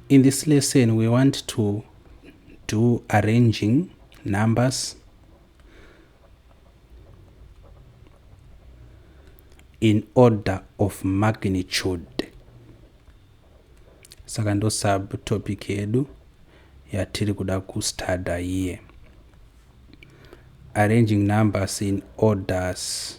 In this lesson, we want to do arranging numbers in order of magnitude. Saka ndo subtopic yedu yatiri kuda kustuda here. Arranging numbers in orders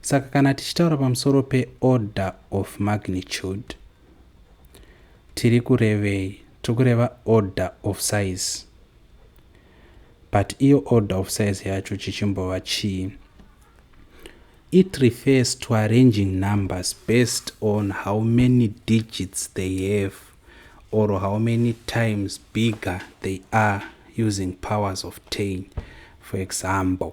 saka kana tichitaura pamusoro peorder of magnitude tiri kurevei tiri kureva order of size but iyo order of size yacho chichimbova chii it refers to arranging numbers based on how many digits they have or how many times bigger they are using powers of 10 for example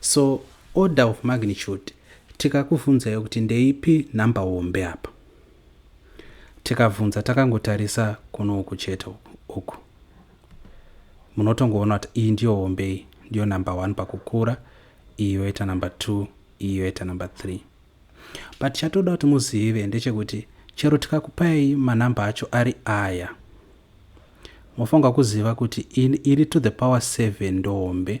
So order of magnitude tikakuvhunzai kuti ndeipi number hombe apa tikavhunza takangotarisa kuno uku chete uku munotongoona kuti iyi ndiyo hombe iyi ndiyo number one pakukura iyi yoita number two iyi yoita number three but chatoda kuti muzive ndechekuti chero tikakupai manumbe acho ari aya mofanirwa kuziva kuti iri to the power seven ndohombe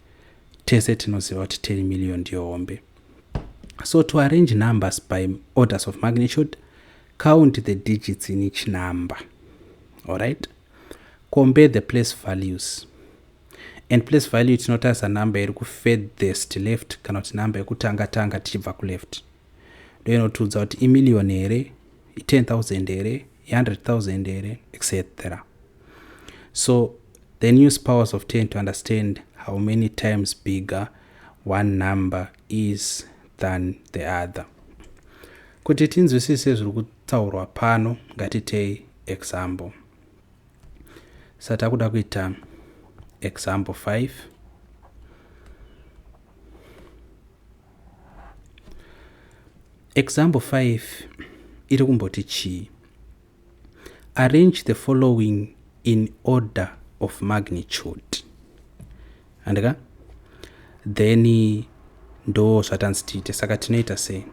tese tinoziva kuti 10 million ndiyo hombe so to arrange numbers by orders of magnitude count the digits in each number alright compare the place values and place value tinotarisa number iri kufedhest left kana kuti number yekutanga tanga tichibva kuleft ndoinotiudza kuti imiliyoni here i10000 here i100000 here etc so the news powers of 10 to understand how many times bigger one number is than the other kuti tinzwisise zviri kutaurwa pano ngatitei example satakuda kuita example 5 Example 5 iri kumboti chii? Arrange the following in order of magnitude. Handika? Then ndo zvatanzi tiite saka tinoita sei?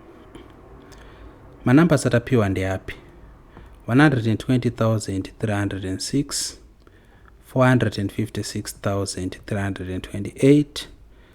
Manumbers atapiwa ndeapi? 120,306 456,328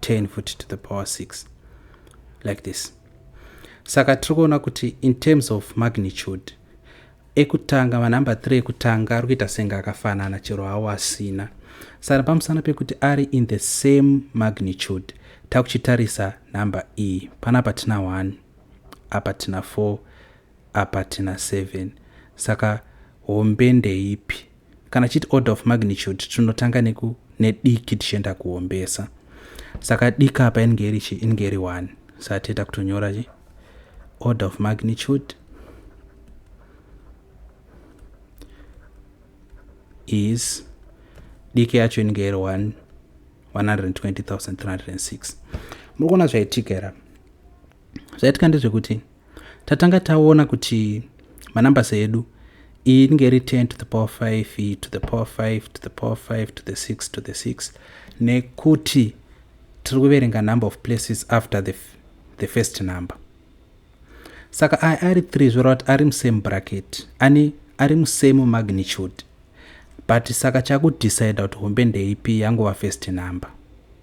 10 futi to the power 6 like this saka tiri kuona kuti in terms of magnitude ekutanga manumber 3 ekutanga ari kuita senge akafanana chero hawo asina saka pamusana pekuti ari in the same magnitude takuchitarisa number e panapa tina 1 apa tina 4 apa tina 7 saka hombe ndeipi kana tichiti order of magnitude tinotanga neku nediki tichienda kuhombesa saka diki apa inenge iri chi inenge iri one saka tiita kutonyora chi order of magnitude is diki yacho inenge iri 120306 muri kuona zvaitika here zvaitika ndezvekuti tatanga taona kuti manumbers edu iyi inenge iri 10 to the power 5 iyi to the power 5 to the power 5 to the 6 to the 6 nekuti tiri kuverenga number of places after the, the first number saka aya ari 3 zvoreva kuti ari musame bracket ani ari musame magnitude but saka chakudecide kuti hombe ndeipi yangova first number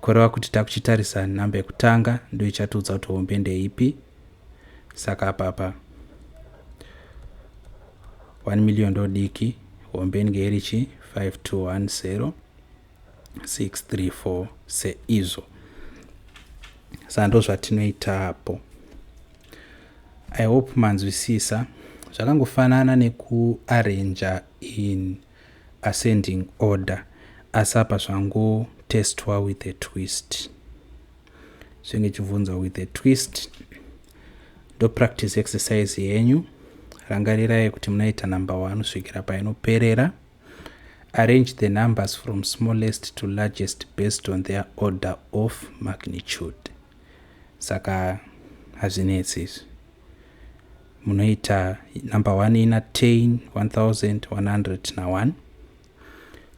Kureva kuti takuchitarisa number yekutanga ndo ichatiudza kuti hombe ndeipi. Saka apapa 1 million ndo diki, hombe inge iri chi 5210 634 seizvo. Saka ndo zvatinoita apo. I hope manzwisisa. Zvakangofanana nekuarranger in ascending order asi apa zvango testwa with a twist zvenge chibvunzwa with a twist ndo practice exercise yenyu rangarirai kuti munoita number one kusvikira painoperera arrange the numbers from smallest to largest based on their order of magnitude saka hazvinetsi izvi munoita number one ina tain 1101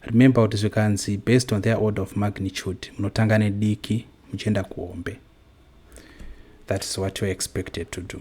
remember kuti zvikanzi based on their order of magnitude munotanga nediki muchienda kuhombe that is what youare expected to do